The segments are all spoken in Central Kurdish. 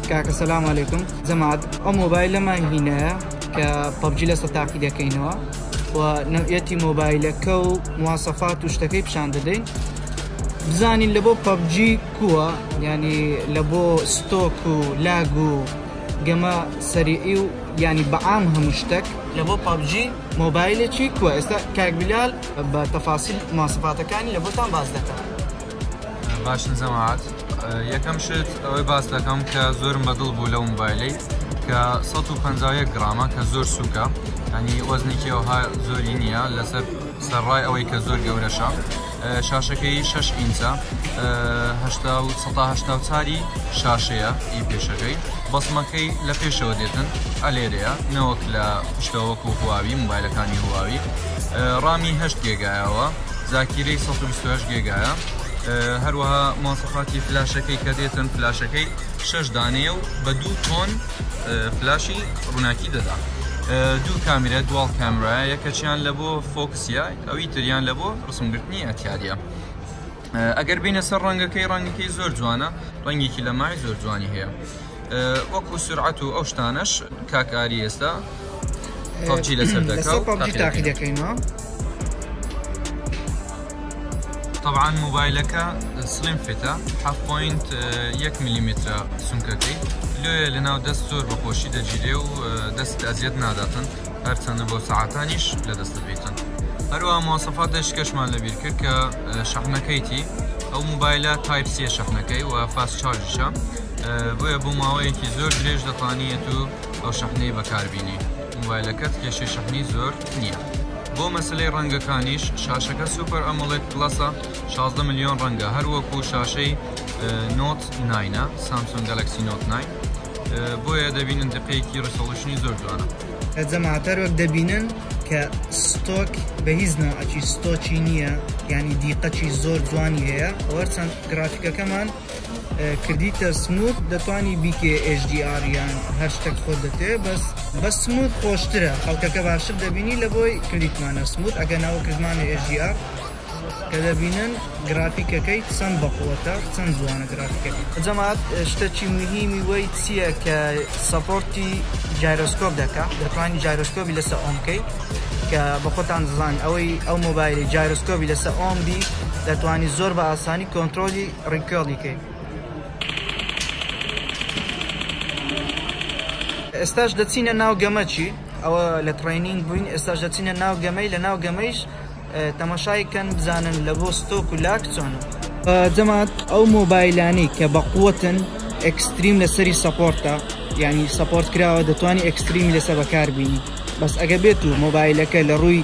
کاکە سلام علیکم جەماعەت ئەو مۆبایلەمان هینایە کە پەبجی لەسە تاقی دەکەینەوە و نەوعەتی مۆبایلەکە و مواسەفات و شتەکەی پیشان دەدەین بزانین لە بۆ پەبجی کووە ینی لە بۆ ستۆک و لاگ و گەمە سەریعی و ینی بەعام هەموو شتێک لە بۆ پەبجی مۆبایلێکی کووە ئێستا کاکبیلال بە تەفاسیل ماسەفاتەکانی لە بۆتان باز دەکات باش نزەماعات. یەکەم شت ئەوەی باس دەکەم کە زۆرم بەدڵ بوو لە موبایلی کە 150 گرامە کە زۆر سووکە هەنی وەزنێکی ئەوها زۆری نییە لەسەر سەرڕای ئەوەی کە زۆر گەورەشە شاشەکەی 6 ئینچە چاری شاشەیە ئی پێشەکەی بەسمەکەی لە پێشەوە دێتن ئەلێرەیە نەوەک لە پشتەوەکو هواوی موبایلەکانی هواوی ڕامی هەشت گێگایەوە زاکیرەی 128 گێگایە هەروەها ماسەخاتی فلاشەکەی کە دێتن فلاشەکەی شش دانەیە و بە دوو تۆن فلاشی ڕووناکی دەدا دوو کامیرە دوال کامرا یەکەچیان لە بۆ فۆکسیا ئەوی تریان لە بۆ ڕسمگرتنی ئەتیاریە ئەگەر بینە سەر ڕەنگەکەی ڕەنگەکەی زۆر جوانە ڕەنگێکی لە مای زۆر جوانی هەیە وەکو سورعەت و ئەو شتانەش کاک ئاری ئێستا پەبجی لەسەر لەسەر دەکا و پەبجی تاقی تاقی دەکەین. دەکەینەوە طبعا موبایلەکە سلیم فیتە حەف پۆینت یەک ملیمترە سمکەکەی لۆیە لەناو دەست زۆر بە خۆشی دەگیرێ و دەست ئەزیەت ناداتن هەرچەندە بۆ سەعاتانیش لە دەست بیتن هەروە مۆسەفاتش کەشمان لەبیر کرد کە شەحنەکەیتی ئەو موبایلە تایپ سێ شەحنەکەی و فاست چارجشە بۆیە بۆ ماوەیەکی زۆر درێژ دەتانیت و ئەو شەحنەی بەکار بینی موبایلەکەت کێشەی شەحنی زۆر نیە بۆ مەسەلەی ڕەنگەکانیش شاشەکە سوپەر ئەمۆڵێد پڵەسە شازدە ملیۆن ڕەنگە هەر وەکو شاشەی نۆت ناینە سامسۆن گەلەکسی نۆت ناین بۆیە دەبینن دقەیەکی ڕیسۆڵیشنی زۆر جوانە. جەماعەت هەر وەک دەبینن کە ستۆک بە هیچ نەوعەکی ستۆکی نییە یانی دیقەکی زۆر جوانی هەیە ئەوەر چەند گرافیکەکەمان کردیتە سمووت دەتوانی بیکەی HDR یان هەر شتەک خۆت دەتەوێ بەس بە سمووت خۆشترە خەڵکەکە باشتر دەبینی لەبۆی کردیتمانە سمووت ئەگەر ناوە کردمانە HDR کە دەبینن گرافیکەکەی چەند بەقوەتە چەند جوانە گرافیکەکە. جەماعەت شتەکی موهیمی وەی چیە کە سەپۆرتی جایرۆسکۆپ دەکا دەتوانی جایرۆسکۆپی لەسە ئۆن کەی کە بە خۆتان دەزانن ئەوەی ئەو مۆبایلی جایرۆسکۆپی لەسە ئۆن بی دەتوانی زۆر بە ئاسانی کۆنترۆلی ڕیکۆڵی کەین. ئێستاش دەچینە ناو گەمەچی ئەوە لە تڕینینگ بووین ئێستاش دەچینە ناو گەمەی لە ناو گەمەیش تەماشای کەن بزانن لە بۆ ستۆک و لاک چۆنە جەمات ئەو مۆبایلانی کە بە قوتن ئەکستریم لەسەری سەپۆرتە ینی سەپۆرت کراوە دەتوانانی ئەکستریمی لەسە بەکاربیین بەس ئەگە بێت و مۆبایلەکە لە ڕووی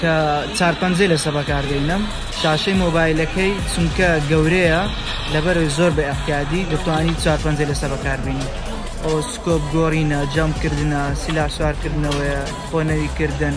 کە چار پەنجەی لەسە بەکاردەینم شاشەی مۆبایلەکەی چونکە گەورەیە لەبەرەوەی زۆر بە ئەحتیادی دەتوانی چار پەنجەی لەسە بەکاربینی ئەو سکۆپ گۆڕینە جەم کردنە سیلا سوارکردنەوەیە خۆنەوی کردن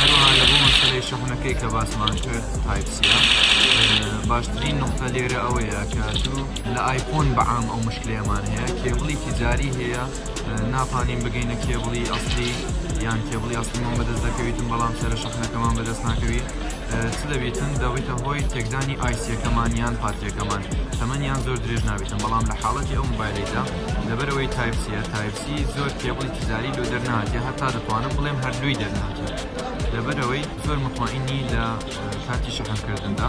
هەروەها لە بۆ مەسەلەی شەحنەکەی کە باسمان کرد تایپ سیە باشترین نقطە لێرە ئەوەیە کە دوو لە ئایفۆن بەعام ئەو مشکلەیەمان هەیە کێبڵی تیجاری هەیە ناتوانین بگەینە کێبڵی ئەسلی یان کێبڵی ئەسلمان بەدەست دەکەویتم بەڵام سەرە شەحنەکەمان بەدەست ناکەوی چ دەبیتن دەبیتە هۆی تێکدانی ئایسیەکەمان یان پاتریەکەمان تەمەنیان زۆر درێژ نابیتن بەڵام لە حاڵەتی ئەو موبایلەیدا لەبەرەوەی تایپ سیە تایپ سی زۆر کێبڵی تجاری لۆ دەرنەهاتیە هەتا دەتوانم بڵێم هەردووی دەرنەهاتیە لەبەرەوەی زۆر مطمئنی لە کاتی شەحن کردندا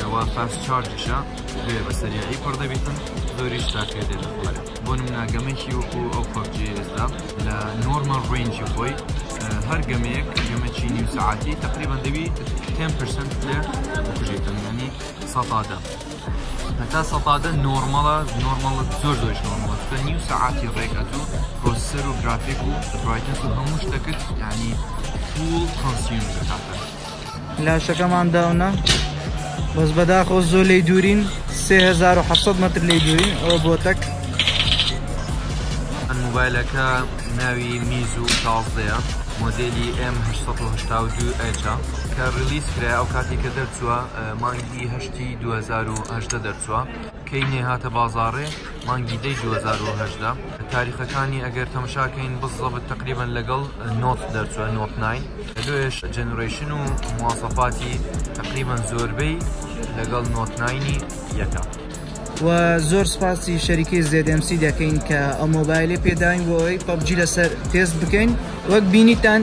ئەوە فاست چارجیشە بێ بە سەریعی پڕ دەبیتن زۆریش ساکێ دێت لە خوارێ بۆ نمونە گەمەیەکی وەکو ئەو پەبجی ئێستا لە نۆرمەڵ ڕێنجی خۆی هەر گەمەیەک گەمەکی نیو سەعاتی تقریبا دەبی 10 پرسەنت لێ بکوژیتن یانی سەتادە هەتا سەتادە نۆرمەڵە نۆرمەڵە زۆر زۆرش نۆرمەڵە چونکە نیو سەعاتی ڕێک ئەتوو پرۆسەر و گرافیک و برایتنس و هەموو شتەکەت یعنی فول کۆنسیوم دەکاتە لاشەکەمان داونە بەس بەداخۆ زۆر لی دوورین 3700 متر لی دوورین ئەوە بۆ تەک ئەن موبایلەکە ناوی میز و شازدەیە مۆدلی M882 ئەچە کە ڕلیز کرای ئەو کاتی کە دەرچووە مانگی هەشت ئاگوستی دوو هەزار و هەژدە دەرچوە کەی نێ هاتە بازاڕێ مانگی دەی دوو هەزار و هەژدە تاریخەکانی ئەگەر تەمشاکەین بزەبت تقریبا لەگەڵ نۆت دەرچوە نۆت ناین لۆێش جەنرەیشن و مواسەفاتی تقریبا زۆربەی لەگەڵ نۆت ناینی یەکە و زۆر سپاسی شەریکی زێدمسی دەکەین کە ئەو مۆبایلی پێداین بۆ ئەوی پەبجی لەسەر تێست بکەین وەک بینیتان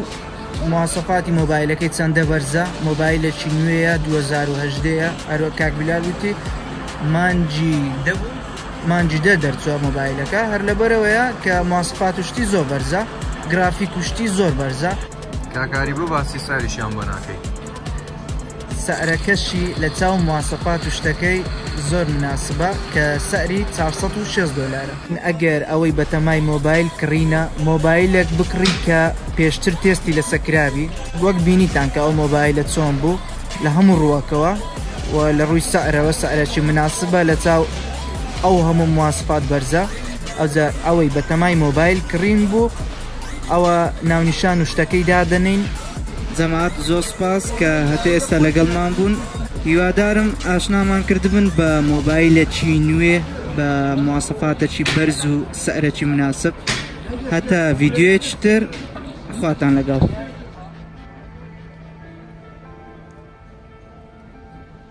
مواسەفاتی مۆبایلەکەی چەندە بەرزە مۆبایلەکی نوێیە دوو هەزار و هەژدە یە ئەرۆ کاک بلال وتی مانجی دەبوو مانجی دە دەرچوە مۆبایلەکە هەر لەبەرەوەیە کە مواسەفات و شتی زۆر بەرزە گرافیک و شتی زۆر بەرزە. کاک ئاری بۆ باسی ساریشیان بۆ ناکەی. سعرەکەشی لە چاو مواسەفات و شتەکەی زۆر مناسبە کە سعری چار سەد و شێست دۆلارە. ئەگەر ئەوەی بەتەمای مۆبایل کڕینە مۆبایلێک بکڕیت کە پێشتر تێستی لەسە کرابی وەک بینیتان کە ئەو مۆبایلە چۆن بوو لە هەموو ڕووەکەوە و لە ڕووی سعرەوە سعرەکی مناسبە لە چاو ئەو هەموو مواسەفات بەرزە ئەوجا ئەوەی بەتەمای مۆبایل کڕین بوو ئەوە ناونیشان و شتەکەی دادەنین. جەماعەت زۆر سوپاس کە هەتە ئێستا لەگەڵمان بوون هیوادارم ئاشنامان کردبن بە مۆبایلەکی نوێ بە مواسەفاتەکی بەرز و سەرەکی مناسب هەتا ڤیددیوەکی تر خواتان لەگەڵ.